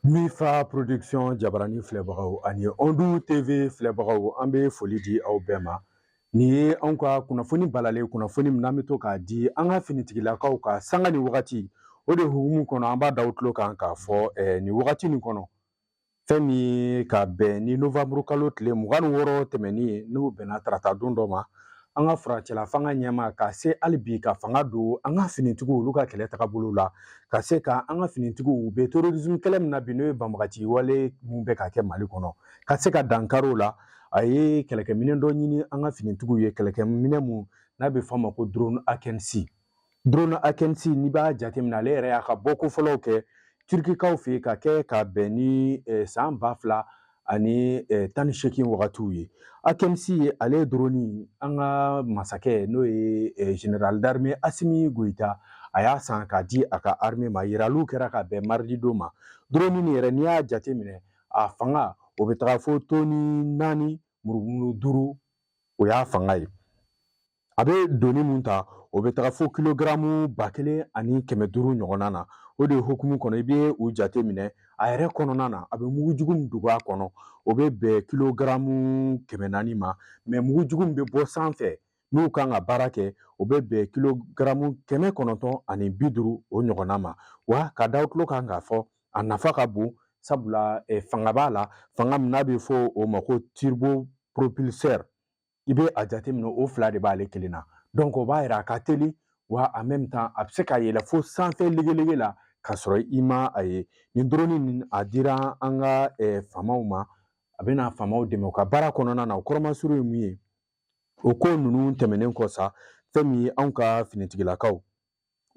Mifa production jabarani filɛbagaw ani ɔndu tv filɛbagaw an bɛ foli di aw bɛɛ ma Nin ye anw ka kunnafoni balalen kunnafoni min an bɛ to k'a di an ka finitigilakaw kan sanga ni wagati o de hukumu kɔnɔ an b'a da tulo kan k'a fɔ eh, nin wagati nin kɔnɔ fɛn min ka bɛn ni novamburu kalo tile mugan ni wɔɔrɔ tɛmɛni ye n'o bɛnna tarata don dɔ ma an ka furancɛla fanga ɲɛmaa ka se hali bi ka fanga don an ka finitigiw olu ka kɛlɛ tagabolo la ka se ka an ka finitigiw u bɛ terrorisme kɛlɛ min na bi n'o ye banbagaci wale min bɛ ka kɛ mali kɔnɔ ka se ka dankari o la a ye kɛlɛkɛminɛn dɔ ɲini an ka finitigiw ye kɛlɛkɛminɛn mun n'a bɛ f'a ma ko drone akɛnisi drone akɛnisi n'i b'a jateminɛ ale yɛrɛ y'a ka bɔko fɔlɔw kɛ turikikaw fɛ yen ka kɛ ka bɛn ni eh, san ba fila ani eh, tan ni seegin wagatiw ye akɛnisi ye ale ye drone an ka masakɛ n'o ye eh, général d'armée asimi goyita a y'a san k'a di a ka armée ma yiraliw kɛra ka bɛn mardi don ma drone nin yɛrɛ n'i y'a jateminɛ a fanga o bɛ taga fo tɔni naani murumuru duuru o y'a fanga ye a bɛ doni mun ta o bɛ taga fo kilogaramu ba kelen ani kɛmɛ duuru ɲɔgɔnna na o de hukumu kɔnɔ i bɛ o jate minɛ a yɛrɛ kɔnɔna na a bɛ mugujugu min dogo a kɔnɔ o bɛ bɛn kilogaramu kɛmɛ naani ma mais mugujugu min bɛ bɔ sanfɛ n'u kan ka baara kɛ o bɛ bɛn kilogaramu kɛmɛ kɔnɔntɔn ani bi duuru o ɲɔgɔnna ma wa k'a da tulo kan k'a fɔ a nafa ka bon sabula fanga b'a la fanga min n'a bɛ fɔ o ma ko turbo propulseur i bɛ a jateminɛ o fila de b'ale kelen na donc o b'a yira a ka teli wa en même temps a bɛ se ka yɛlɛ fo sanfɛ legelege la k'a sɔrɔ i ma a ye nin drone nin a dira an ka faamaw ma a bɛna faamaw dɛmɛ u ka baara kɔnɔna na o kɔrɔmasuru ye mun ye o ko ninnu tɛmɛnen kɔ sa fɛn min ye anw ka finitigilakaw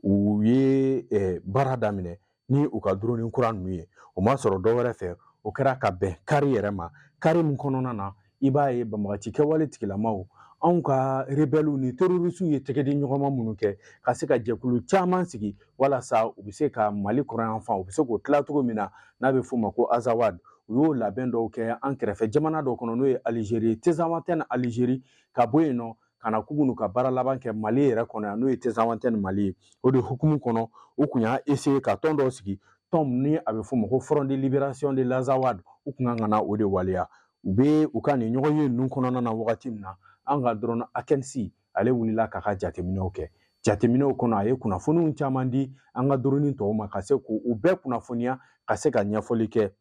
u ye baara daminɛ ni u ka drone kura ninnu ye o ma sɔrɔ dɔ wɛrɛ fɛ o kɛra ka bɛn kari yɛrɛ ma kari min kɔnɔna na i b'a ye banbagaci kɛwale tigilamaw anw ka rebɛliw ni terorisiw ye tɛgɛdi ɲɔgɔnma minnu kɛ ka se ka jɛkulu caman sigi walasa u bɛ se ka mali kɔrɔnyanfan u bɛ se k'o tila cogo min na n'a bɛ f'o ma ko azawad u y'o labɛn dɔw kɛ an kɛrɛfɛ jamana dɔ kɔnɔ n'o ye alizeri tezawantɛni alizeri ka bɔ yen nɔ ka na k'u ka baara laban kɛ mali yɛrɛ kɔnɔ yan n'o ye tezawantɛni mali ye o de hukumu kɔnɔ u kun y'a eseye ka tɔn dɔw sigi tɔn ni a bɛ f'o ma ko front de libération de l'azawad u kun kan ka na o de waleya u bɛ u ka nin ɲɔgɔnye ninnu kɔnɔna na wagati min na an ka drone akɛnisi ale wulila k'a ka jateminɛw kɛ jateminɛw kɔnɔ a ye kunnafoniw caman di an ka drone tɔw ma ka se k'u bɛɛ kunnafoniya ka se ka ɲɛfɔli kɛ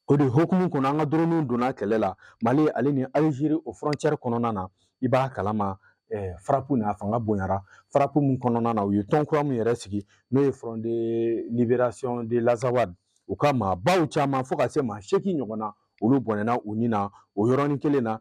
o de hukumu kɔnɔ an ka dronew donna kɛlɛ la mali ale ni alizeri o frontière kɔnɔna na i b'a kalama eh, frappe n'a fanga bonyara frappe min kɔnɔna na u ye tɔn kura min yɛrɛ sigi n'o ye front de libération de l'azawad u ka maabaw caman fo ka se maa seegin ɲɔgɔnna olu bɔnɛna u ni na o yɔrɔnin kelen na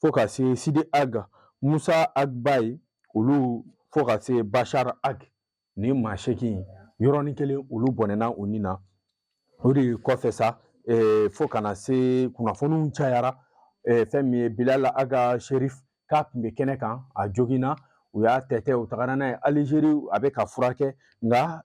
fo ka se sidi ag musa ag baye olu fo ka se bashar ag ni maa seegin yɔrɔnin kelen olu bɔnɛna u ni na o de kɔfɛ sa eh, fo ka na se kunnafoniw cayara eh, fɛn min ye bilal ag asherif k'a tun bɛ kɛnɛ kan a joginna u y'a tɛtɛ u tagara n'a ye alizeri a bɛ ka furakɛ nka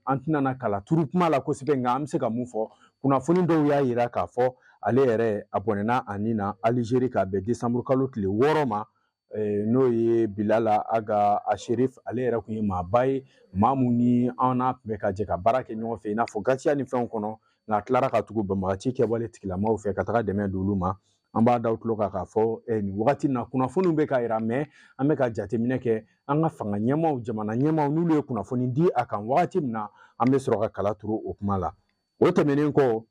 an tɛna na kala turu kuma la kosɛbɛ nka an bɛ se ka mun fɔ kunnafoni dɔw y'a yira k'a fɔ ale yɛrɛ a bɔnɛna a ni na alizeri ka bɛn desanburu kalo tile wɔɔrɔ ma n'o ye bilal ag asherif ale yɛrɛ tun ye maaba ye maa mun ni an n'a tun bɛ ka jɛ ka baara kɛ ɲɔgɔn fɛ i n'a fɔ gatia ni fɛnw kɔnɔ nka a tilara ka tugu banbagaci kɛwale tigilamaw fɛ ka taga dɛmɛ don olu ma an b'a da aw tulo kan k'a fɔ eh, nin wagati na kunnafoniw bɛ ka yira mais an bɛ ka jateminɛ kɛ an ka fanga ɲɛmaaw jamana ɲɛmaaw n'olu ye kunnafoni di a kan wagati min na an bɛ sɔrɔ ka kala turu o kuma la o tɛmɛnen kɔ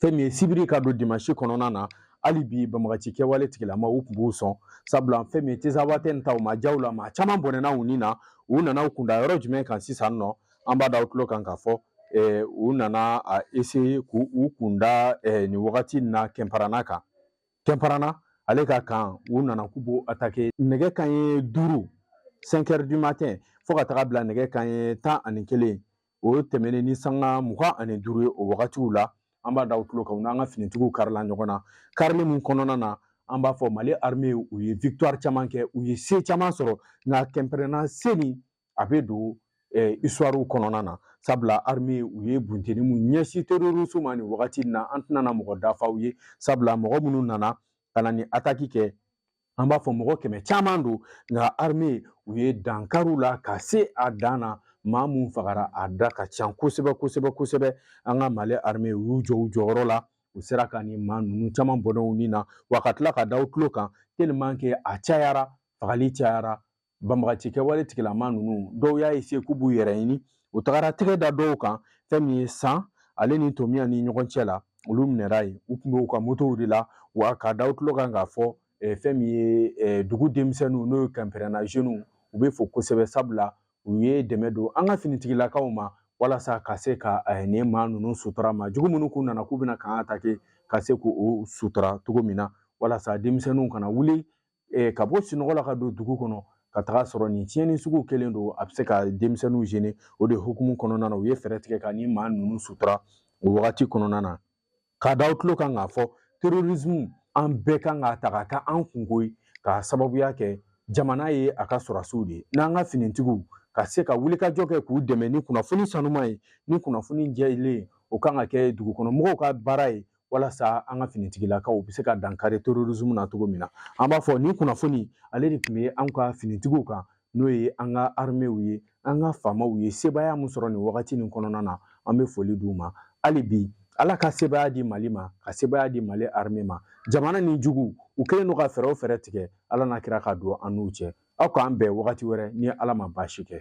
fɛn min ye sibiri ka don dimansi kɔnɔna na hali bi banbagaci kɛwale tigilamaw tun b'u sɔn sabula fɛn min ye tinzawatɛni ta o ma diya u la maa caman bɔnɛna u ni na u nana u kun da yɔrɔ jumɛn kan sisan nɔ an b'a da aw tulo kan k'a fɔ u nana a essayer k'u kun da nin wagati in na kɛnparana kan kɛnparana ale ka kan u nana k'u b'o atake nɛgɛ kanɲɛ duuru cinq heures du matin fo ka taga bila nɛgɛ kanɲɛ tan ani kelen o tɛmɛnen ni sanga mugan ani duuru ye o wagatiw la an b'a da aw tulo kan u n'an ka finitigiw karila ɲɔgɔn na karili min kɔnɔna na an b'a fɔ mali arme u ye victoire caman kɛ u ye se caman sɔrɔ nka kɛnparana se nin a bɛ don histoire kɔnɔna na sabula arime u ye bunteni mun ɲɛsin terrorisme ma nin wagati in na an tɛna na mɔgɔ da fɔ aw ye sabula mɔgɔ minnu nana ka na nin ataki kɛ an b'a fɔ mɔgɔ kɛmɛ caman don nka arime u ye dankari u la ka se a dan na maa mun fagara a da ka ca kosɛbɛ kosɛbɛ kosɛbɛ an ka mali arime u y'u jɔ u jɔyɔrɔ la u sera ka nin maa ninnu caman bɔnɛ u ni na wa ka tila k'a da aw tulo kan tellement que a cayara fagali cayara banbagaci kɛwale tigilama ninnu dɔw y'a essayer k'u b'u yɛrɛ ɲini u tagara tɛgɛ da dɔw kan fɛn min ye san ale ni tominiyan ni ɲɔgɔn cɛ la olu minɛra yen u tun bɛ u ka motow de la wa k'a da aw tulo kan k'a fɔ eh, fɛn min ye eh, dugu denmisɛnninw n'o ye kɛnparana zɛniw u bɛ fo kosɛbɛ sabula u ye dɛmɛ don an ka finitigilakaw ma walasa ka se ka eh, nin maa ninnu sutura maa jugu minnu k'u nana k'u bɛna k'an atake ka se k'u sutura cogo min na walasa denmisɛnninw kana wuli eh, ka bɔ sinɔgɔ la ka don dugu kɔnɔ ka taga sɔrɔ nin tiɲɛni sugu kelen don a bɛ se ka denmisɛnninw gêner o de hukumu kɔnɔna na u ye fɛɛrɛ tigɛ ka nin maa ninnu sutura o wagati kɔnɔna na k'a da aw tulo kan k'a fɔ terrorisme an bɛɛ kan k'a ta ka kɛ an kunko ye k'a sababuya kɛ jamana ye a ka sɔrɔdasiw de ye n'an ka finitigiw ka se ka wulikajɔ kɛ k'u dɛmɛ ni kunnafoni sanuman ye ni kunnafoni jɛlen o kan ka kɛ dugukɔnɔmɔgɔw ka baara ye walasa an ka finitigilakaw bɛ se ka dankari terrorisme na cogo min na an b'a fɔ nin kunnafoni ale de tun bɛ an ka finitigiw kan n'o ye an ka armew ye an ka FAMaw ye sebaaya min sɔrɔ nin wagati nin kɔnɔna na an bɛ foli d'u ma hali bi ala ka sebaaya di mali ma ka sebaaya di mali arme ma jamana nin juguw kɛlen don ka fɛɛrɛ o fɛɛrɛ tigɛ ala n'a kira ka don an n'u cɛ aw k'an bɛn wagati wɛrɛ ni ala ma baasi kɛ